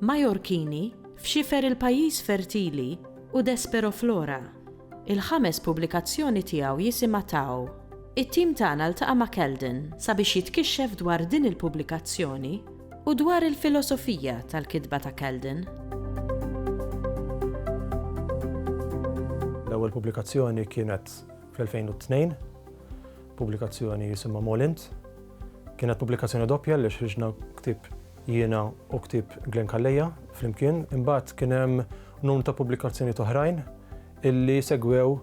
Majorkini, F'xifer il-pajjiż fertili u Desperoflora. Il-ħames pubblikazzjoni tiegħu jisimha Tao. It-tim tagħna ltaqa' ma' Kelden sabiex jitkixxef dwar din il-pubblikazzjoni u dwar il-filosofija tal-kitba ta' Kelden. L-ewwel pubblikazzjoni kienet fl-2002, pubblikazzjoni jisimha Molint. Kienet pubblikazzjoni doppja għaliex ħriġna ktieb jiena u ktieb Glenn Calleja flimkien, imbagħad kien hemm numru ta' pubblikazzjonijiet oħrajn illi segwew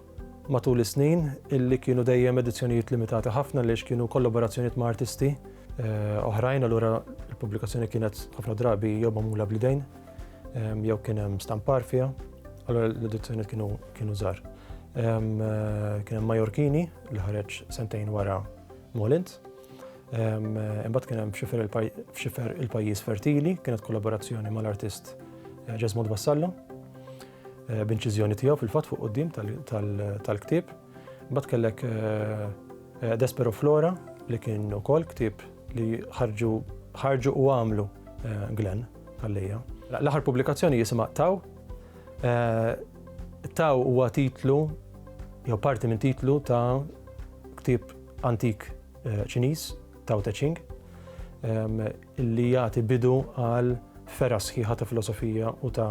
matul is-snin illi kienu dejjem edizzjonijiet limitati ħafna għaliex kienu kollaborazzjonijiet ma' artisti eh, oħrajn, allura l-pubblikazzjoni kienet ħafna drabi jew magħmula bl-idejn ehm, jew kien hemm stampar fiha, allura l-edizzjonijiet kienu kienu żgħar. Ehm, eh, kien hemm Majorkini li ħareġ sentejn wara Molint. Imbagħad kien hemm f'xifer il-pajjiż fertili, kienet kollaborazzjoni mal-artist eh, Ġesmod Vassallo, eh, b'inċiżjoni tiegħu fil-fatt fuq qudiem tal-ktieb. Imbagħad kellek eh, Despero Flora li kien ukoll ktieb li ħarġu u għamlu Glenn għalija. L-aħħar pubblikazzjoni jisimha Taw. Taw huwa titlu jew parti minn titlu ta' ktieb antik eh, Ċiniż, Tao Te Ching, ehm, li jagħti bidu għal fera sħiħa ta' filosofija u ta'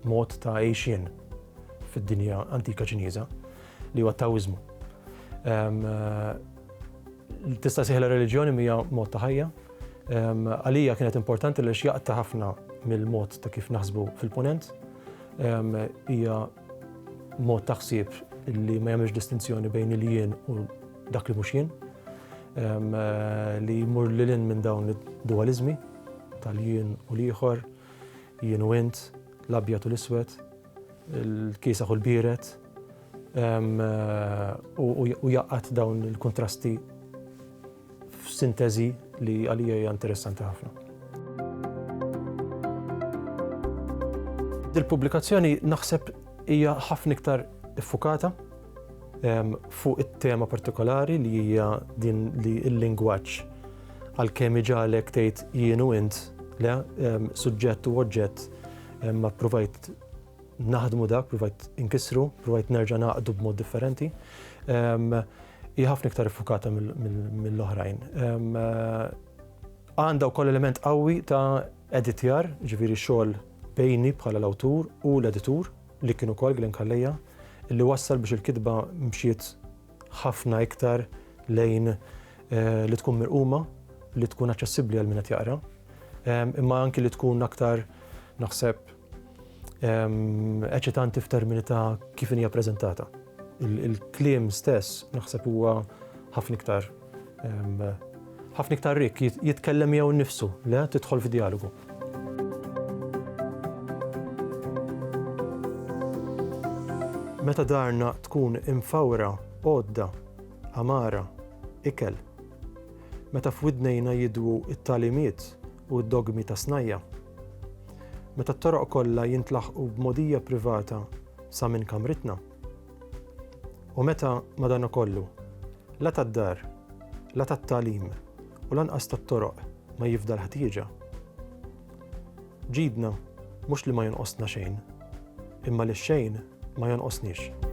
mod ta' għejxien fid-dinja antika Ċiniża li huwa Taoizmu. Ehm, eh, tista' siħla reliġjoni mija mod ta' ħajja. Ehm, għalija kienet importanti li xjaqta ħafna mill-mod ta' kif naħsbu fil-ponent. Hija mod ta' ħsieb li ma jagħmilx distinzjoni bejn il-jien u dak li mhux jien, li jmur lil hinn minn dawn id-dualiżmi tal-jien u l-ieħor, jien u int, l-abjad u l-iswed, il-kiesaħ u l-biered, u jaqgħad dawn il-kuntrasti f'sinteżi li għalija hija interessanti ħafna. Dil-pubblikazzjoni naħseb hija ħafna iktar iffukata ehm, fuq it-tema partikolari li hija din li l-lingwaġġ għalkemm iġalek tgħid jienu int le ehm, suġġett u oġġett ehm, ma provajt naħdmu dak, provajt inkissru, provajt nerġa' naqdu b'mod differenti. Ehm, hi ħafna iktar iffukata mill-oħrajn. Ehm, għandha wkoll element qawwi ta' editjar, ġifieri xogħol bejni bħala l-awtur u l-editur li kienu kol Glenn Kalleja, li wassal biex il-kitba mxiet ħafna iktar lejn eh, li tkun mirquma, li tkun aċċessibbli għal min qed jaqra, ehm, imma anki li tkun aktar naħseb eċitanti f'termini ta' kif hija preżentata. Il-kliem stess naħseb huwa ħafna iktar ħafna iktar rik jitkellem jew nifsu, le tidħol f'dialogu. Meta darna tkun imfawra, għodda, amara, ikel. Meta f'widnejna jidwu it-talimiet u d-dogmi ta' snajja. meta t-toroq kollha jintlaħqu b'mogħdija privata sa minn kamritna? U meta, madankollu, la tad-dar, la tat-tagħlim u lanqas tat-toroq ma jifda l-ħtieġa? Ġidna mhux li ma jonqosna xejn, imma li xejn ma jonqosniex.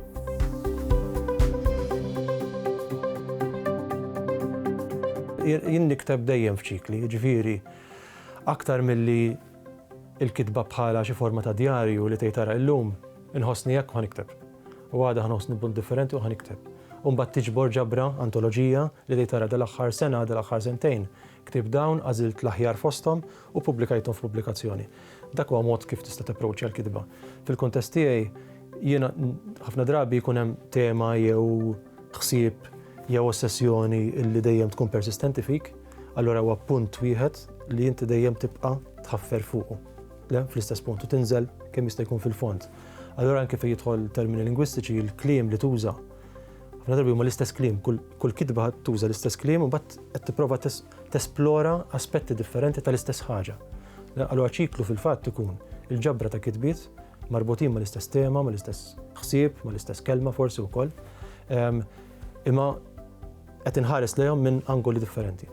jien nikteb dejjem f'ċikli, ġviri Aktar milli l-kitba bħala xi forma ta' djarju li tgħid ara illum inħossni hekk u ħa nikteb. U għada ħa nħossni b'mod differenti u ħa nikteb. U mbagħad tiġbor ġabra, antoloġija, li tgħid ara dal-aħħar sena, dal-aħħar sentejn ktibt dawn, għażilt l-aħjar fosthom u ppubblikajthom f'pubblikazzjoni. Dak huwa mod kif tista' tapproaċċja l-kitba. Fil-kuntest tiegħi jiena ħafna drabi jkun hemm tema jew ħsieb jew ossessjoni li dejjem tkun persistenti fik, allura huwa punt wieħed li inti dejjem tibqa' tħaffer fuqu, le fl-istess punt u tinżel kemm jista' jkun fil-fond. Allura anke fejn jidħol termini lingwistiċi, il-kliem li tuża. Ħafna drabi huma l-istess kliem, kull kitba tuża l-istess kliem u mbagħad qed tipprova tesplora aspetti differenti tal-istess ħaġa. Allura ċiklu fil-fatt ikun il-ġabra ta' kitbiet marbutin mal-istess tema, mal-istess ħsieb, mal-istess kelma forsi wkoll. Imma Qed inħares lejhom minn angoli differenti.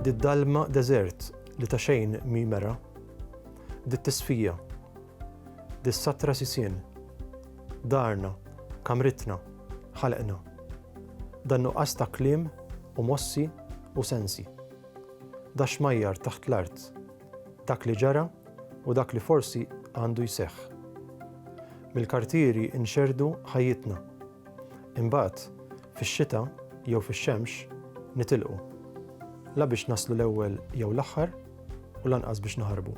Did-dalma deżert li ta' xejn mhi mera, dit-tisfija, dis-satra sisien, darna, kamritna, ħalqna, dan-nuqqas ta' kliem u mossi u sensi, dax-xmajjar taħt l-art, Dak li ġara u dak li forsi għandu jseħħ. Mill-kartieri nxerrdu ħajjitna. Imbagħad, fix-xita jew fix-xemx, nitilqu. La biex naslu l-ewwel jew l-aħħar u lanqas biex naħarbu.